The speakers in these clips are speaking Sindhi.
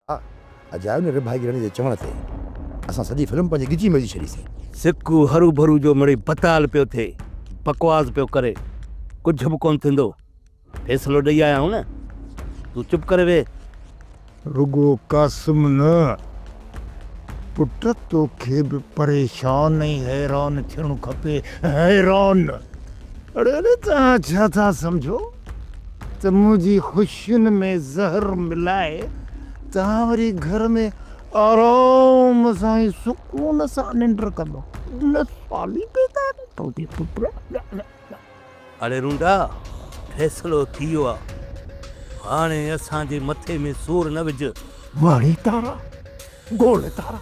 ها اجايو نه رڀائي رڻ جي چوڻ تي اسان سڄي فلم پنهنجي ڳچي ۾ وجهي ڇڏيسين. سڪو هرو ڀرو جو مڙئي بتال پيو ٿئي بڪواس پيو ڪري ڪجهه به ڪونه ٿيندو فيصلو ڏئي آيا آهيون نه تون چپ ڪري ويهه. رڳو قاسم نه پٽ توکي به پريشان ۽ حيران ٿيڻ کپي حيران اڙي اڙي توهان ڇا ٿا سمجهو. ته منهنجي خوشين ۾ زهر ملائي توهان وري گهر ۾ آرام سان ۽ سڪون سان ننڊ ڪندو. ان سالي پيدا نه ڪندي پٽ. اڙي رونڊا فيصلو ٿي ويو آ هاڻي اسان جي مٿي ۾ سور نه وجهه. ماڻي تارا گول تارا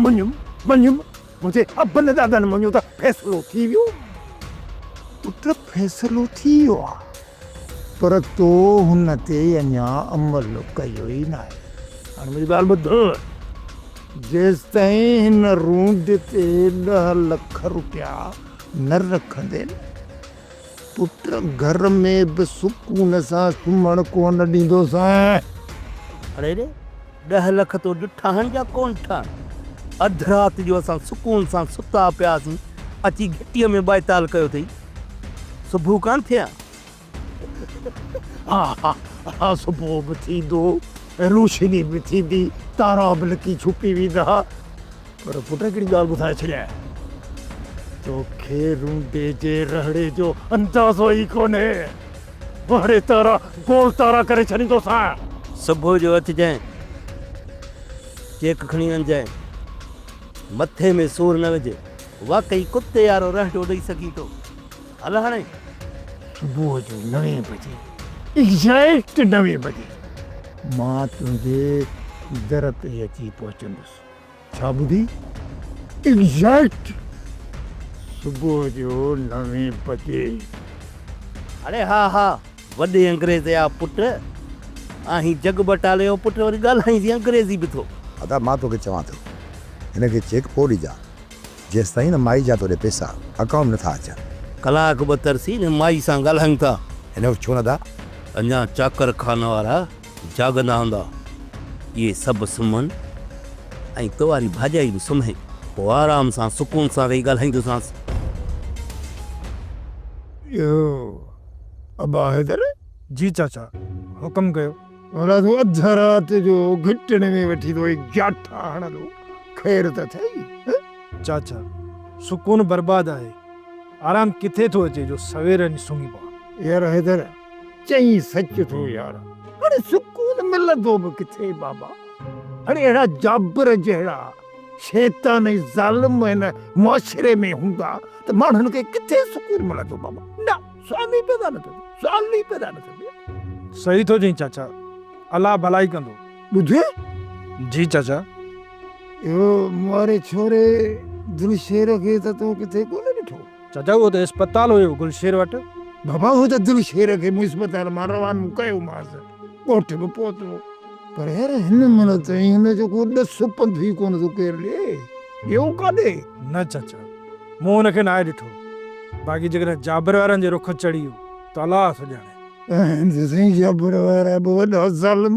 منجهه منجهه منهنجي ابن ڏاڏن مڃيو ته فيصلو ٿي ويو. پٽ فيصلو ٿي ويو آ پر تو هن تي اڃا عمل ڪيو ئي ناهي. هاڻي منهنجي ڳالهه ٻڌ. جيستائين هن رونڊ تي ڏهه لک روپيا نه رکندين. پٽ گهر ۾ به سڪون سان سمهڻ ڪونه ڏيندوسانء. اڙي اڙي، ڏهه لک تو ڏٺا آهن يا ڪونه ٺا؟ اڌ رات جو اسان سڪون سان ستا پياسين، اچي گهٽيء ۾ ٻائتال ڪيو اٿئي. صبح ڪانه ٿئي ها؟ ها ها ها، صبح به ٿيندو، روشني به ٿيندي، تارا به لڪي ڇپي ويندا. پر پٽ هڪڙي ڳالهه ٻڌائي ڇڏيائين، توکي رونڊي جي رهڙي جو اندازو ئي ڪونهي، وهڙي تارا گول تارا ڪري ڇڏيندوسانء. صبح جو اٿجانء، چيڪ کڻي وڃجانء، مٿي ۾ سور نه وجهي. واقعي ڪتي وارو رهڙو ڏئي سگهين ٿو، هل هاڻي. صبح جو نوين بجي، ايگزيڪٽ نوين بجي، مان تنهنجي در تي اچي پهچندس. ڇا ٻڌي؟ ايگزيڪٽ صبح جو نوين بجي. اڙي ها ها وڏي انگريز جا پٽ آهين جڳ بٽالي جو پٽ وري ڳالهائين جي انگريزي به ٿو. ادا مان توکي چوان ٿو هن کي چيڪ پوء ڏجان جيستائين نه مائي جا توڏي پيسا اڪائونٽ ۾ نٿا اچن. ڪلاڪ ٻه ترسي هن مائي سان ڳالهايون ٿا. هن وٽ ڇو نه ادا؟ اڃان چاڪر خانه وارا. جاڳندا هوندا، اهي سڀ سمهن ۽ ڪنواري ڀاڄائي به سمهي، پوء آرام سان سڪون سان ويهي ڳالهائيندوسانس. اهو ابا حيدر! جي چاچا، حڪم ڪيو. ڀلا تون اڌ رات جو گهٽڻي ۾ ويٺي ٿو هي جاٺا هڻندو، خير ته اٿئي؟ ها؟ چاچا، سڪون برباد آهي، آرام ڪٿي ٿو اچي جو سوير وڃي سمهي پوان. يار حيدر! چئين سچ ٿو يار، اڙي سڪون ملندو به ڪٿي بابا، اڙي اهڙا جابر جهڙا شيطان ۽ ظالم هن معاشري ۾ هوندا ته ماڻهن کي ڪٿي سڪون ملندو بابا، نه سوال ئي پيدا نه ٿو ٿئي، سوال ئي پيدا نه ٿو ٿئي. صحيح ٿو چئين چاچا، الله ڀلائي ڪندو. ٻڌئي؟ جي چاچا. اهو مئاري ڇوري دلشير کي ته تون ڪٿي ڪونه ڏٺو؟ چدو اهو ته اسپتال هيو گل شير وٽ. بابا اهو ته گل شير کي مون اسپتال مان روانو ڪيومانس ڳوٺ به پهتو پر هن مهل تائين هن جو ڪو ڏس پنڌ ئي ڪونه ٿو ڪير ڏي ويو ڪاڏي؟ نه چچا مون هن کي ناهي ڏٺو باقي جيڪڏهن جابر وارن جي رخ چڙهي ويو ته الله ٿو ڄاڻي. آهن ته سائين جابر وارا به وڏا ظالم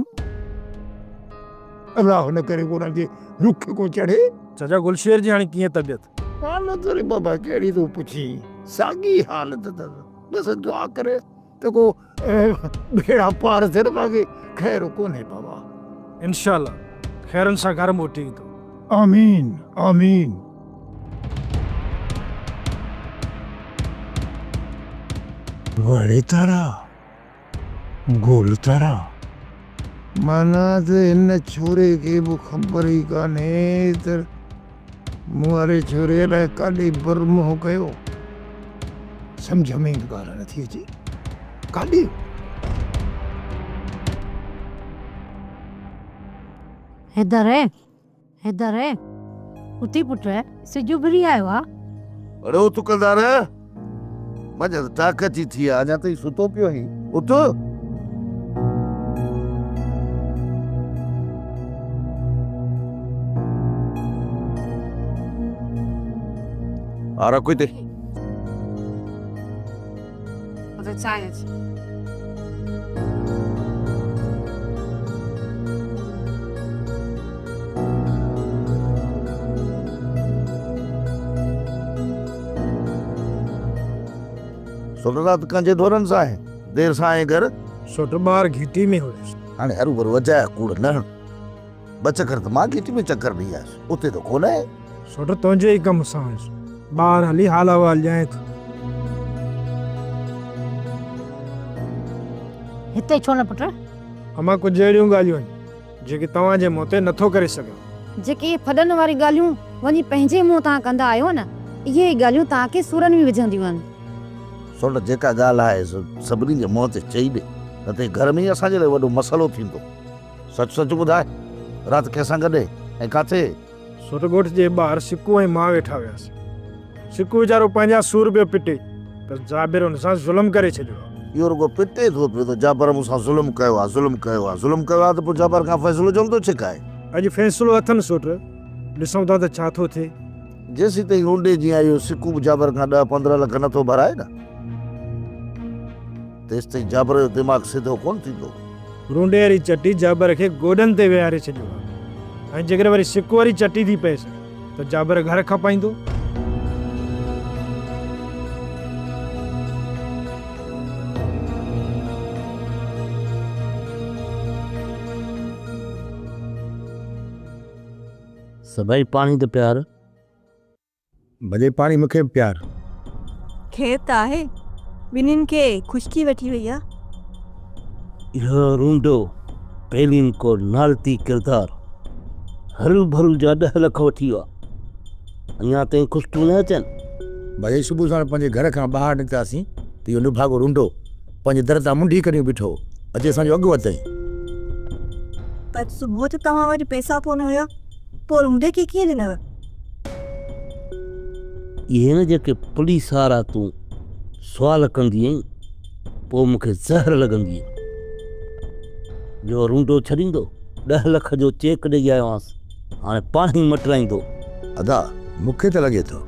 الله نه ڪري ڪو انهن جي رخ کي ڪو چڙهي. چچا گل شير جي هاڻي ڪيئن طبيعت؟ حالت وري بابا ڪهڙي ٿو پڇين ساڳي حالت اٿس بس دعا ڪر ته ڪو ٻيڙا پار ٿين باقي خير ڪونهي بابا. انشاء الله خيرن سان گهر موٽي ايندو. آمين آمين. وڙي تارا. گول ترا. معنيٰ ته هن ڇوري کي به خبر ئي ڪانهي ته مون واري ڇوري الائي ڪاڏي بر منهن ڪيو. سمجهه ۾ ئي ڳالهه نٿي اچي. ڪاڏي؟ حيدر، حيدر، اٿي پٽ، سج اڀري آيو آ. اڙو تڪلدار، منجهس ٽاڪ اچي ٿي آ، اڃا تائين ستو پيو آهين، اٿ. آ رکو هتي. اتي چانهه اچي سوٽ رات کان جي دورن سائين دير سائين گھر سوٽ ٻار گھيٽي ۾ هيس. هاڻي هروڀرو اجايا ڪوڙ نه هڻ. ٻه چڪر ته مان گهٽي ۾ چڪر ڏئي آيس، اتي ته ڪونه آهي. سوٽ تنهنجي ئي ڪم سان هيس، ٻاهر هلي حال احوال ڄائين ٿو. هتي ڇو نه پٽ؟ امان ڪجهه اهڙيون ڳالهيون آهن، جيڪي توهان جي منهن تي نه ٿو ڪري سگهيان. جيڪي ڦڏن واريون ڳالهيون وڃي پنهنجي منهن تان ڪندا آهيو نه، اهي ئي ڳالهيون توهان کي سورن ۾ وجهنديون آهن. سوٽ جيڪا ڳالهه آهي، سو سڀني جي منهن تي چئي ڏي، نه ته هي گهر ۾ ئي اسان جي لاء وڏو مسئلو ٿيندو. سچ سچ ٻڌاء رات ڪنهن سان گڏ ۽ ڪاٿي؟ سوٽ ڳوٺ جي ٻاهر سڪو ۽ مان ويٺا هياسين. سڪو ويچارو پنهنجا سور پيو پٽي ته جابر هن سان ظلم ڪري ڇڏيو آ. اهو رڳو پٽي ٿو پيو ته جابر مون سان ظلم ڪيو آ، ظلم ڪيو آ، ظلم ڪيو آ ته پوء جابر کان فيصلو ڇو نٿو ڇڪائي؟ اڄ فيصلو اٿن سوٽ، ڏسون ٿا ته ڇا ٿو ٿئي. جيسيتائين لونڊي جيان اهو سڪو به جابر کان ڏهه پندرهن لک نٿو ڀرائي نه. تيستائين جابر جو دماغ سڌو ڪونه ٿيندو. رونڊي واري چٽي جابر کي گوڏن تي ويهاري ڇڏيو هو ۽ جيڪڏهن وري سڪ واري چٽي ٿي پيس ته جابر گهر کپائيندو. سڀئي پاڻي ته پيار. ڀلي پاڻي مون کي به پيار. خير ته آهي، ٻنين کي خشڪي وٺي وئي آ. اهو رونڊو پيلين ڪو نالتي ڪردار هرو ڀرو جا ڏهه لک وٺي ويو آ، اڃا تائين خشڪيون نه اچن. ڀلي صبح ساڻ پنهنجي گهر کان ٻاهر نڪتاسين ته اهو نڀاڳو رونڊو پنهنجي در تان منڍي ڪڍيون بيٺو هو، اچي اسان جو اڳ وڌتئين. اڄ صبح جو توهان وٽ پئسا ڪونه هيا؟ پوء روڊي کي ڪيئن ڏنو؟ اهي نه جيڪي پوليس وارا تون سوال ڪندي ائين پوء مون کي زهر لڳندي هئي جو روڊو ڇڏيندو ڏهه لک جو چيڪ ڏئي آيو آهيانس هاڻي پاڻ ئي مٽرائيندو. ادا مون کي ته لڳي ٿو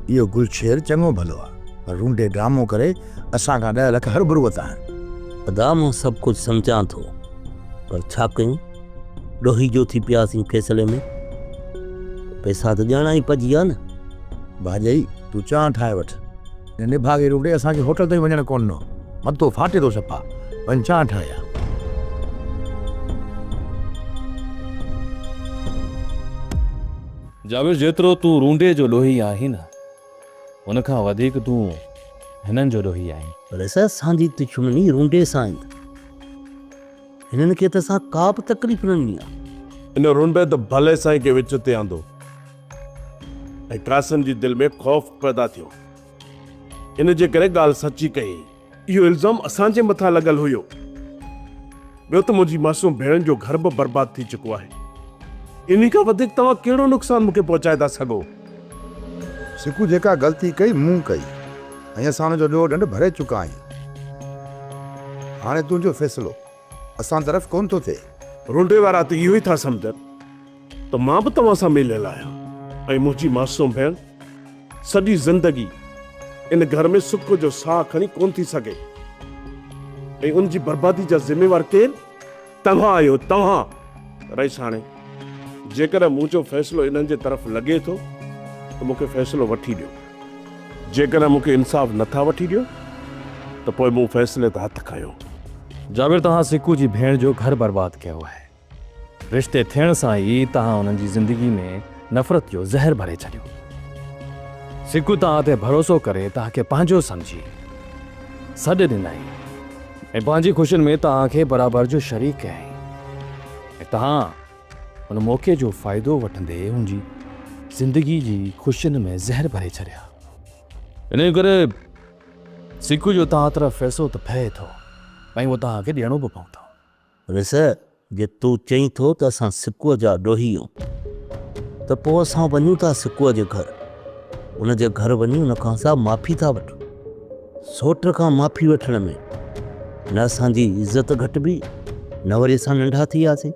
اهو گل شير چڱو ڀلو آهي پر روڊي ڊرامو ڪري اسان کان ڏهه لک هربرو ورتا آهن. ادا مان سڀ ڪجهه سمجهان ٿو پر ڇا ڪيون؟ ڏوهي جو ٿي پياسين فيصلي ۾. پئسا ته ڄڻا ئي پڄي ويا نه. ڀاڄئي تون چانهه ٺاهي وٺ. نڀاڳي روٽي اسان کي هوٽل تائين وڃڻ ڪونه ڏنو. مٿو ڦاٽي ٿو صفا. وڃ چانهه ٺاهي آ. جابر جيترو تون رونڊي جو ڏوهي آهين نه ان کان وڌيڪ تون هنن جو ڏوهي آهين. پر اسان جي دشمني رونڊي سان آهي. هنن کي ته اسان ڪا به تڪليف نه ڏني آهي. ان رنڊ ته ڀلي سائين کي وچ تي آندو ۽ قاسم جي دل ۾ خوف پيدا ٿيو. ان جي ڪري ڳالهه سچي ڪيائين. اهو الزام اسان جي مٿان لڳل هيو. ٻيو ته منهنجي معصوم ڀيڻن جو گهر به برباد ٿي چڪو آهي. انهي کان وڌيڪ توهان ڪهڙو نقصان مون کي پهچائي ٿا سگهو. سڪو جيڪا غلطي ڪئي مون ڪئي ۽ اسان ان جو ڏوهه ڏنڊ ڀري چڪا آهيون. هاڻي تنهنجو فيصلو اسان طرف ڪونه ٿو ٿئي. رونڊي وارا ته اهو ئي ٿا سمجهن ته مان به توهان سان مليل آهيان ۽ منهنجي معصوم ڀيڻ سڄي زندگي ان گهر ۾ سڪ جو ساهه کڻي ڪونه ٿي سگهي ۽ ان جي بربادي جا ذميوار ڪير؟ توهان آهيو توهان رئيس هاڻي جيڪڏهن مون جو فيصلو انهن جي طرف لڳي ٿو ته مون کي فيصلو وٺي ڏيو جيڪڏهن مون کي انصاف نه ٿا وٺي ڏيو ته پوء مون فيصلي تي هٿ کنيو. جابر توهان سڪو جي ڀيڻ جو گهر برباد ڪيو آهي رشتي ٿيڻ سان ئي توهان انهن جي زندگي ۾ نفرت جو زهر ڀري ڇڏيو. سکو توهان تي ڀروسو ڪري توهان کي پنهنجو سمجهي سڏ ڏنائين ۽ پنهنجي خوشين ۾ توهان کي برابر جو شريڪ ڪيائين ۽ توهان ان موقعي جو فائدو وٺندي هن جي زندگي جي خوشين ۾ زهر ڀري ڇڏيا. انهي ڪري سکو جو توهان طرف پئسو ته پئي ٿو ۽ اهو توهان کي ڏيڻو به پوندو. رسه، جي تون چئين ٿو ته اسان سڪوء جا ڏوهي هيون ته پوء اسان وڃون ٿا سڪوء جي گهر. ان جي گهر وڃي ان کان اسان معافي ٿا وٺون. سوٽ کان معافي وٺڻ ۾ نه اسان جي عزت گهٽبي نه وري اسان ننڍا ٿي وياسين.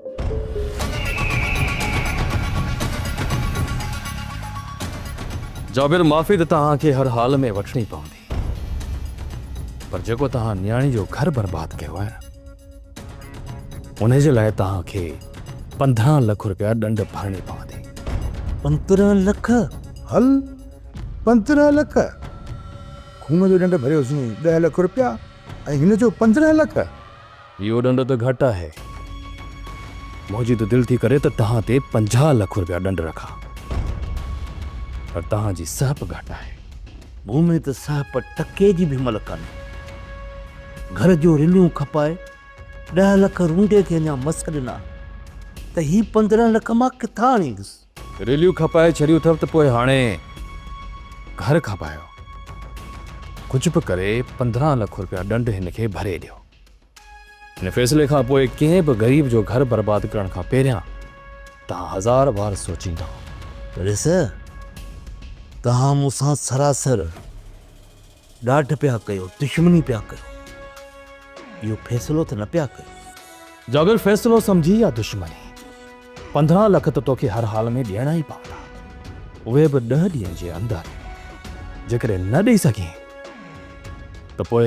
جابر، معافي ته توهان کي هر حال ۾ وٺڻي پوندي. پر جيڪو توهان نياڻي جو گهر برباد ڪيو آهي نه ان جي لاء توهان کي پندرهن لک روپيا ڏنڊ ڀرڻي پوندي. پندرهن لک؟ هل پندرهن لک خون جو ڏنڊ ڀريوسين ڏهه لک روپيا ۽ هن جو پندرهن لک. اهو ڏنڊ ته گهٽ آهي. منهنجي ته دل ٿي ڪري ته توهان تي پنجاهه لک رپيا ڏنڊ رکان. پر توهان جي سهپ گهٽ آهي. مون ۾ ته سهپ ٽڪي جي به ملڪ ڪانهي. گهر جو رليون کپائي ڏهه لک رونڊي کي اڃا مس ڏنا ته هي پندرهن لک مان ڪٿان آڻيندس. رليون کپائي ڇڏيون اٿئو ته پوء هاڻي گهر کپايو. ڪجهه به ڪري پندرهن لک رپيا ڏنڊ هن کي ڀري ڏيو. هن فيصلي کان پوء ڪنهن به غريب جو گهر برباد ڪرڻ کان پهريان توهان هزار بار سوچيندا. ريس، توهان مون سان سراسر ڏاڍ پيا ڪيو، دشمني پيا ڪيو. اهو فيصلو ته نه پيا ڪيو. جابر، فيصلو سمجهي يا دشمني، پندرهن لک ته توکي هر حال ۾ ڏيڻا ئي پوندا. اهي به ڏهه ڏينهن جي اندر. جيڪڏهن نه ڏئي سگهين ته پوء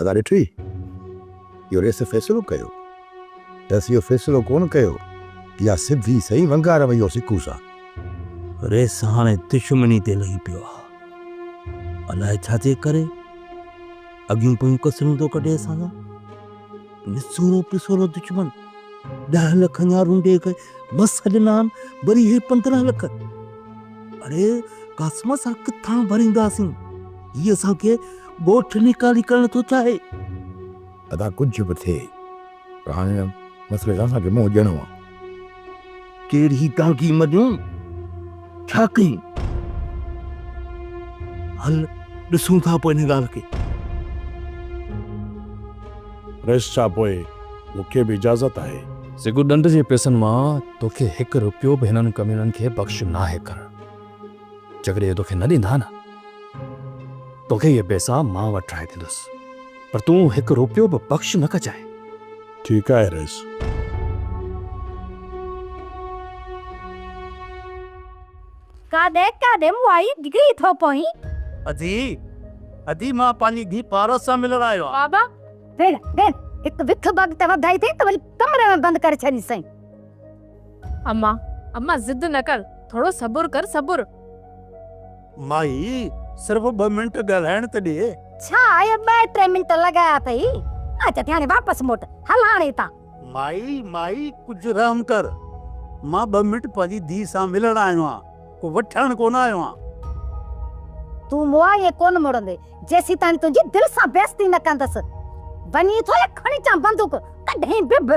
ادا ڏٺئي اهو ريس فيصلو ڪيو ريس اهو فيصلو ڪونه ڪيو اها سڌي سئي ونگار وئي هو سڪو سان. ريس هاڻي دشمني تي لهي پيو آ الاء ڇا جي ڪري اڳيون پويون ڪسرون ٿو ڪڍي اسان سان. نسورو پسورو دشمن ڏهه لک اڃا رونڊي کي مس ڏنا آهن، وري هي پندرهن لک. اڙي قاسم اسان ڪٿان ڀرينداسين؟ هي اسان کي ڳوٺ نيڪالي ڪرڻ ٿو چاهي. ادا ڪجهه به ٿئي پر هاڻي هن مسئلي سان اسان کي منهن ڏيڻو آهي. ڪير هي ٽانڪي مڏيون ڇا ڪيون؟ هل ڏسون ٿا پوء هن ڳالهه کي. رئيس شاهه پوء مون کي به اجازت آهي. سگهه ڏنڊ جي پئسن مان توکي هڪ رپيو به هنن ڪميڻن کي بخش ناهي ڪرڻ. جيڪڏهن اهي توکي نه ڏيندا نه توکي اهي پيسا مان وٽ ٺاهي ڏيندس پر تون هڪ روپيو به بخش نه ڪجانء. ٺيڪ آهي رئيس. ڪاڏي ڪاڏي مائي ڊگهي ٿو پوين. ادي ادي مان پنهنجي ڌي پارس سان ملڻ آيو آهيان. بابا ڀيڻ ڀيڻ هڪ وک بگ ته وڌائي اٿئي ته وري ڪمري ۾ بند ڪري ڇڏينسئي. امان، امان ضد نه ڪر، ٿورو صبر ڪر صبر. مائي، صرف ٻه منٽ ڳالهائڻ ته ڏي. ڇا آء ٻه ٽي منٽ لڳايا اٿئي، اچ اٿي هاڻي واپس موٽ، هل هاڻي هتان. مائي، مائي ڪجهه رحم ڪر، مان ٻه منٽ پنهنجي ڌيء سان ملڻ آيو آهيان، ڪو وٺڻ ڪونه آيو آهيان. تون مون آء ائين ڪونه مڙندي، جيسيتاڻي تنهنجي دل سان بيعزتي نه ڪندس. وڃي ٿو يا کڻي اچان بندوق، ڪڍين به به.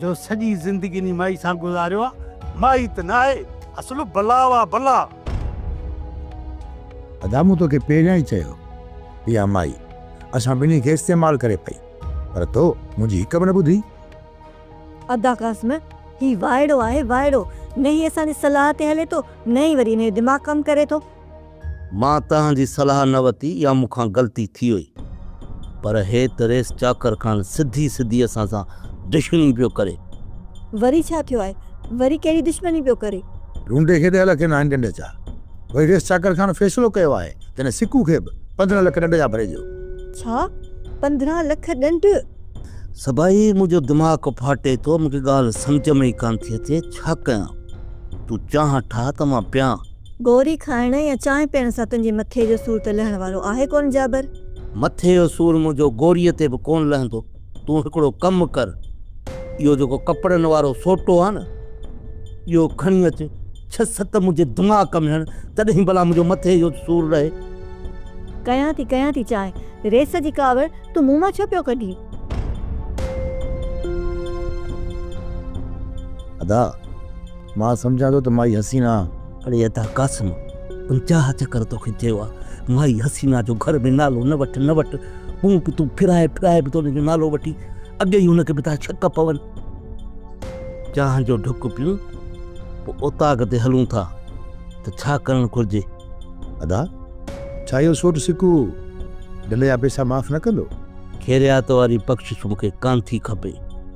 جو سڄي زندگي انهي مائي سان گذاريو آ، مائي ته ناهي اصل بلا آ بلا. ادا مون توکي پهريان ئي چيو هو اها مائي اسان ٻنهي کي استعمال ڪري پئي پر تو منهنجي هڪ به نه ٻڌي. ادا قاسم هي وائڙو آهي وائڙو نه هي اسان جي صلاح تي هلي ٿو نه ئي وري هن جو دماغ ڪم ڪري ٿو. مان توهان جي صلاح نه وتي يا مون کان غلطي ٿي وئي پر هي ته ريس چاڪر خان سڌي سڌي اسان سان دشمني پيو ڪري. وري ڇا ٿيو آهي؟ وري ڪهڙي دشمني پيو ڪري؟ ڍونڍي کي ڏهه لک ناهن ڏنڊ جا. وري ريس چاڪر خان فيصلو ڪيو آهي ته هن سڪو کي به پندرهن لک ڏنڊ جا ڀري ڏيو. ڇا؟ پندرهن لک ڏنڊ؟ سڀائي منهنجو دماغ ڦاٽي ٿو. مون کي ڳالهه سمجهه ۾ ئي ڪانه ٿي اچي ڇا ڪيان؟ تون چانهه ٺاهه ته مان پيان. گوري کائڻ يا چانهه پيئڻ سان تنهنجي مٿي جو سور ته لهڻ وارو آهي ڪونه جابر؟ مٿي جو سور منهنجو گوريء تي به ڪونه لهندو. تون هڪڙو ڪم ڪر، اهو جيڪو ڪپڙن وارو سوٽو آهي نه، اهو کڻي اچ، ڇهه ست منهنجي دماغ ۾ هڻ، تڏهن ڀلا منهنجو مٿي جو سور لهي. ڪيان ٿي، ڪيان ٿي چانهه. ريس جي ڪاوڙ تون مون مان ڇو پيو ڪڍين؟ ادا! مان سمجهان ٿو ته مائي حسينا. اڙي ادا قاسم پنجاهه چڪر توکي چيو آ مائي حسينا جو گهر ۾ نالو نه وٺ نه وٺ هون به تون ڦرائي ڦرائي به ته ان جو نالو وٺي اڳي ئي هن کي به ٿا ڇڪ پون. چانهه جو ڍڪ پيون پوء اوطاق تي هلون ٿا ته ڇا ڪرڻ گهرجي. ادا ڇا اهو سوٽ سڪو ڍل جا پئسا معاف نه ڪندو. خيريات واري بخشش مون کي ڪانٿي کپي.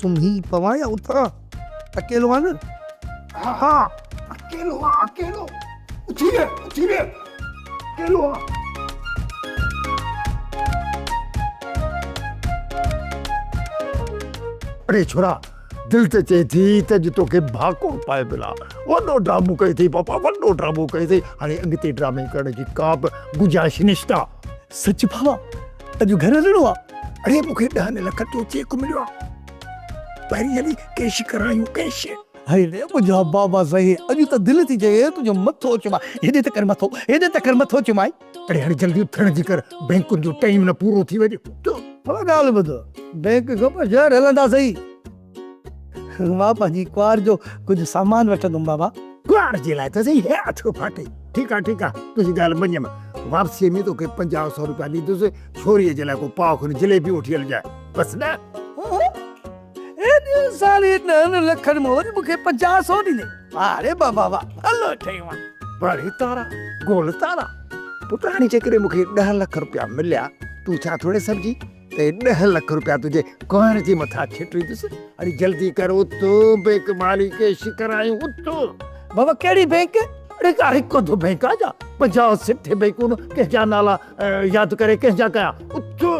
سمهي پوان يا اٿان اڪيلو آهي نه. ها ها اڪيلو آهي اڪيلو. اٿي ويهه اٿي ويهه اڪيلو آهي. اڙي ڇورا دل ته چئي ٿي ته اڄ توکي ڀاڪور پائي ملان. وڏو ڊرامو ڪيو اٿئي پاپا وڏو ڊرامو ڪيو اٿئي. هاڻي اڳتي ڊرامي ڪرڻ جي ڪا به گنجائش نشته. سچ ڀاوا اڄ گهر هلڻو آ. اڙي مون کي ڏهن لکن جو چيڪ مليو آ پهرين هلي ڪيش ڪرايون ڪيش. هائي ري منهنجا بابا سائين اڄ ته دل ٿي چئي تنهنجو مٿو چومائي هيڏي ته ڪر مٿو هيڏي ته ڪر مٿو چومائي. اڙي هاڻي جلدي اٿڻ جي ڪر بينڪن جو ٽائيم نه پورو ٿي وڃي. ڀلا ڳالهه ٻڌ بينڪ کان پوء شهر هلندا سهي. مان پنهنجي ڪنوار جو ڪجهه سامان وٺندم بابا. ڪنوار جي لاء ته سهي هي اٿيو ڦاٽي. ٺيڪ آهي ٺيڪ آهي تنهنجي ڳالهه مڃيم. واپسيء ۾ توکي پنجاهه سؤ روپيا ڏيندس. ڇوريء جي لاء ڪو پاء کن جليبيون وٺي هلجانء. بس نه؟ ها ها. ايڏي ساري ڏهن لکن موج مون کي پنجاهه سؤ ڏيندين. واه ري بابا واه. ڀلو چيو آهي. ٻاڙي تارا، گول تارا. پٽ هاڻي جيڪڏهن مون کي ڏهه لک روپيا مليا، تون ٿيان ٿوري سڏجي. ته ڏهه لک روپيا تنهنجي ڪهر جي مٿان ڇٽيندس. اڙي جلدي ڪر اتو بينڪ مالي ڪيش ڪرايون اتو. بابا ڪهڙي بينڪ؟ اڙي ڪا هڪ اڌ بينڪ آ جا پنجاهه سٺ بينڪون ڪنهن جا نالا ياد ڪري ڪنهن جا ڪيا اتو.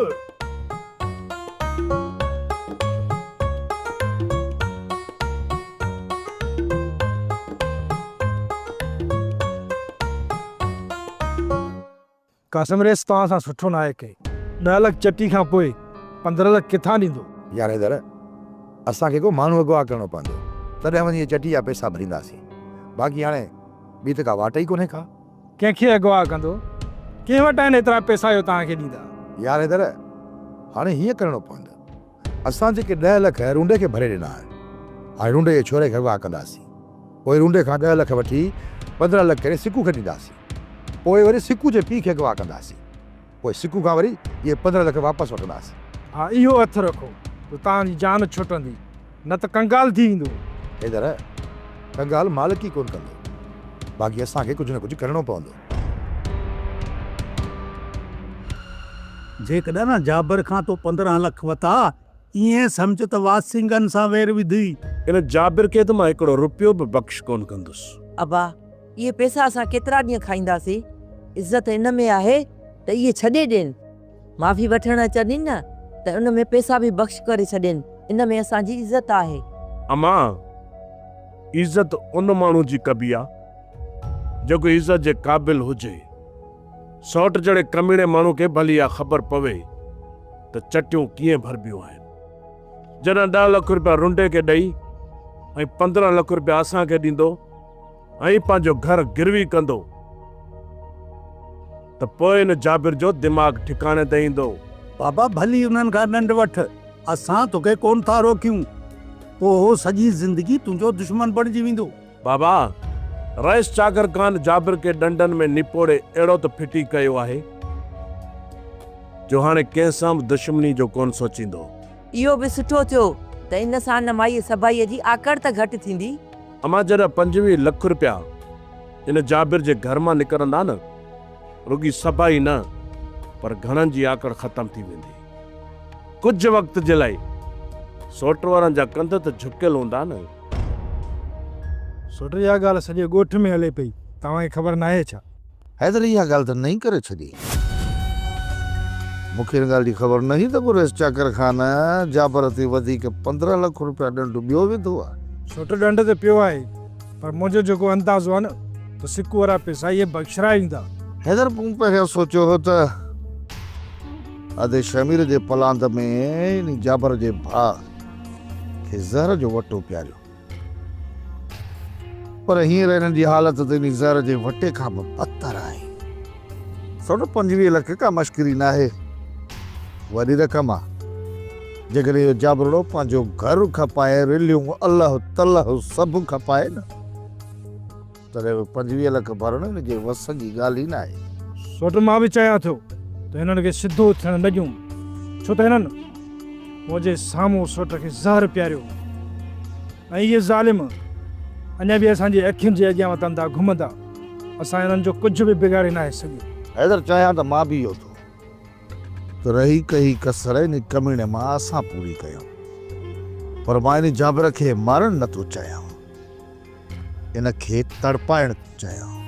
قاسم ريس توهان سان سٺو ناهي ڪئي. ڏهه لک چٽي کان پوء پندرهن لک ڪٿان ڏيندو؟ يار حيدر اسان کي ڪو ماڻهو اغوا ڪرڻو پوندو تڏهن وڃي اهي چٽي جا پئسا ڀرينداسين باقي هاڻي ٻي ته ڪا واٽ ئي ڪونهي ڪا. ڪنهن کي اغوا ڪندو؟ ڪنهن وٽ آهن ايترا پئسا جو توهان کي ڏيندا؟ يار حيدر هاڻي هيئن ڪرڻو پوندو. اسان جيڪي ڏهه لک رونڊي کي ڀري ڏنا آهن، هاڻي رونڊي جي ڇوري کي اغوا ڪنداسين. پوء رونڊي کان ڏهه لک وٺي پندرهن لک ڪري سڪو کي ڏينداسين. پوء وري سڪو جي پيء کي اغوا ڪنداسين. پوء سڪو کان وري اهي پندرهن لک واپس وٺنداسين. ها اهو هٿ رکو ته توهان جي جان ڇٽندي، نه ته ڪنگال ٿي ويندو. حيدر، ڪنگال مالڪ ئي ڪونه ڪندو، باقي اسان کي ڪجهه نه ڪجهه ڪرڻو پوندو. جيڪڏهن جابر کان تو پندرهن لک وتا، ايئن سمجهه ته واسنگهن سان وير وڌي. ان جابر کي ته مان هڪڙو روپيو به بخش ڪونه ڪندس. ابا، اهي پئسا اسان ڪيترا ڏينهن کائينداسين؟ عزت ان ۾ آهي ته اهي ڇڏي ڏين. معافي وٺڻ اچنين نه ته ان ۾ پيسا به بخش ڪري ڇڏين، ان ۾ اسان جي عزت آهي. امان، عزت ان ماڻهو جي ڪبي آ، جيڪو عزت جي قابل هجي. سئوٽ جهڙي ڪميڻي ماڻهو کي ڀلي اها خبر پوي ته چٽيون ڪيئن ڀربيون آهن. جڏهن ڏهه لک رپيا رنڊي کي ڏئي ۽ پندرهن لک رپيا اسان کي ڏيندو، ۽ پنهنجو گهر گروي ڪندو ته پوء ان جابر جو دماغ ٺڪاڻي تي ايندو. بابا ڀلي انهن کان ڏنڊ وٺ، اسان توکي ڪونه ٿا روڪيون. پوء هو سڄي زندگي تنهنجو دشمن بڻجي ويندو. بابا! رئيس چاگرڪان جابر کي ڏنڊن ۾ نپوڙي اهڙو ته ڦٽي ڪيو آهي جو هاڻي ڪنهن سان به دشمني جو ڪونه سوچيندو. اهو به سٺو ٿيو ته ان سان نمائيء سڀائيء جي آڪڙ ته گهٽ ٿيندي. امان جڏهن پنجويهه لک رپيا ان جابر جي گهر مان نڪرندا نه رڳي سڀ ئي نه پر گهڻن جي آڪڙ ختم ٿي ويندي. ڪجهه وقت جي لائي سوٽ وارن جا ڪنڌ ته جهڪيل هوندا نه. سوٽ اها ڳالهه سڄي ڳوٺ ۾ هلي پئي توهان کي خبر ناهي ڇا؟ حيدر اها ڳالهه ته نئين ڪري ڇڏي. مون کي ان ڳالهه جي خبر نه هئي ته قريش چاڪر خان جابر تي وڌيڪ پندرهن لک روپيا ڏنڊ ٻيو وڌو آهي. سوٽ ڏنڊ ته پيو آهي پر منهنجو جيڪو اندازو آهي نه ته سڪو وارا پيسا اهي بخشرائي ويندا. حيدر پهريان سوچيو هو ته ادي شهمير جي پلاند ۾ انهي جابر جي ڀاء کي زهر جو وٽو پياريو. پر هينئر انهن جي حالت ته انهي زهر جي وٽي کان به بدتر آهي. سؤ پنجويهه لک ڪا مشڪري ناهي. وڏي رقم آ. جيڪڏهن اهو جابروڙو پنهنجو گهر کپائي رليون الهه تلهه سڀ کپائي نه. تڏهن به پنجويهه لک ڀرڻ هن جي وس جي ڳالهه ئي نه آهي. سوٽ مان به چيا ٿيو ته هنن کي سڌو ٿيڻ نه ڏيون ڇو ته هنن منهنجي سامهون سوٽ کي زهر پياريو هو ۽ اهي ظالم اڃا به اسان جي اکين جي اڳيان وتندا گهمندا اسان هنن جو ڪجهه به بگاڙي ناهي سگهيو. حيدر چاهيان ته مان به اهو ٿو ته رهي ڪهي ڪسر انهي ڪميڻي مان اسان پوري ڪيون پر مان انهي جابر کي مارڻ نه ٿو چاهيان. ان کي تڙپائڻ چيائون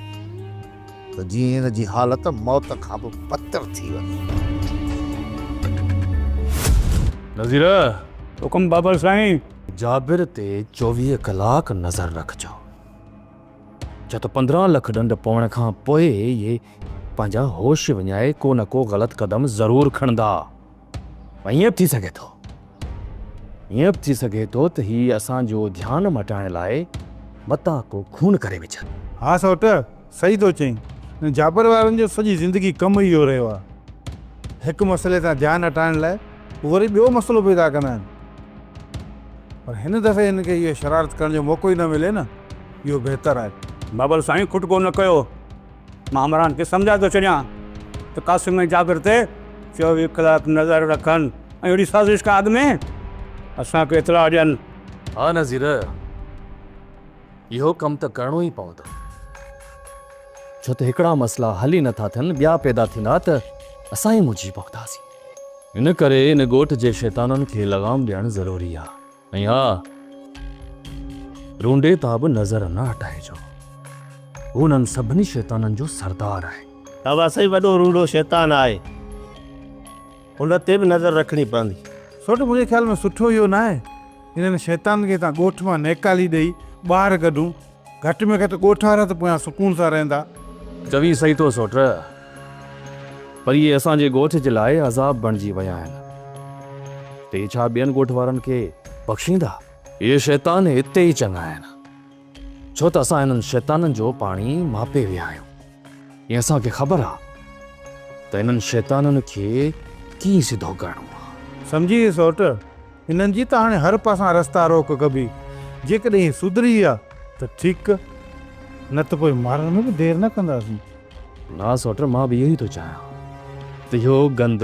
ته جيئن ان جي حالت موت کان به بدتر ٿي وڃي. نذيره! حڪم بابل سائين! جابر تي چوويهه ڪلاڪ نظر رکجو. ڇا ته پندرهن لک ڏنڊ پوڻ کان پوء اهي پنهنجا هوش وڃائي ڪو نه ڪو غلط قدم ضرور کڻندا. ائين به ٿي سگهي ٿو ائين به ٿي سگهي ٿو ته هي اسان جو ڌيان مٽائڻ لاء متان ڪو خون ڪري وجهن. ها سوٽ، صحيح ٿو چئين. هن جابر وارن جو سڄي زندگي ڪم ئي اهو رهيو آهي. هڪ مسئلي تان ڌيان هٽائڻ لاء هو وري ٻيو مسئلو پيدا ڪندا آهن. پر هن دفعي هن کي اها شرارت ڪرڻ جو موقعو ئي نه ملي نه، اهو بهتر آهي. بابل سائين کٽڪو نه ڪيو. مان همراهن کي سمجهائي ٿو ڇڏيان ته قاسم ۽ جابر تي چوويهه ڪلاڪ نظر رکن ۽ اهڙي سازش کان اڳ ۾ اسان کي اطلاع ڏين. ها نذير، اهو ڪم ته ڪرڻو ئي پوندو، ڇو ته هڪڙا مسئلا حل ئي نٿا ٿين، ٻيا پيدا ٿيندا ته اسان ئي منهنجي پونداسين. ان ڪري ان ڳوٺ جي شيطانن کي لغام ڏيڻ ضروري آهي. ۽ ها! رونڊي تان به نظر نه هٽائجو. هو انهن سڀني شيطانن جو سردار آهي. توهان سائين وڏو رونڊو شيطان آهي. ان تي به نظر رکڻي پوندي. سوٽ منهنجي خيال ۾ سٺو اهو ناهي انهن شيطانن کي هتان ڳوٺ مان نيڪالي ڏئي ٻاهر ڪڍون. گهٽ ۾ گهٽ ڳوٺ وارا ته پويان سڪون سان رهندا. چوين صحيح ٿو سوٽ، پر اهي اسان جي ڳوٺ جي لاء عذاب بڻجي ويا آهن، ته اهي ڇا ٻين ڳوٺ وارن کي بخشيندا؟ اهي شيطان اتي ئي چڱا آهن، ڇو ته اسان هنن شيطانن جو پاڻي ماپي ويا آهيون. ۽ اسان کي خبر آ ته انهن شيطانن کي ڪيئن سڌو ڪرڻو آ. سمجهي ويس سوٽ، انهن جي ته هاڻي هر پاسان رستا روڪ ڪبي، جيڪڏهن هي سڌري ويا ته ٺيڪ، نه ته پوء مارڻ ۾ به دير نه ڪنداسين. نا سوٽ، مان به اهو ئي ٿو چاهيان ته اهو گند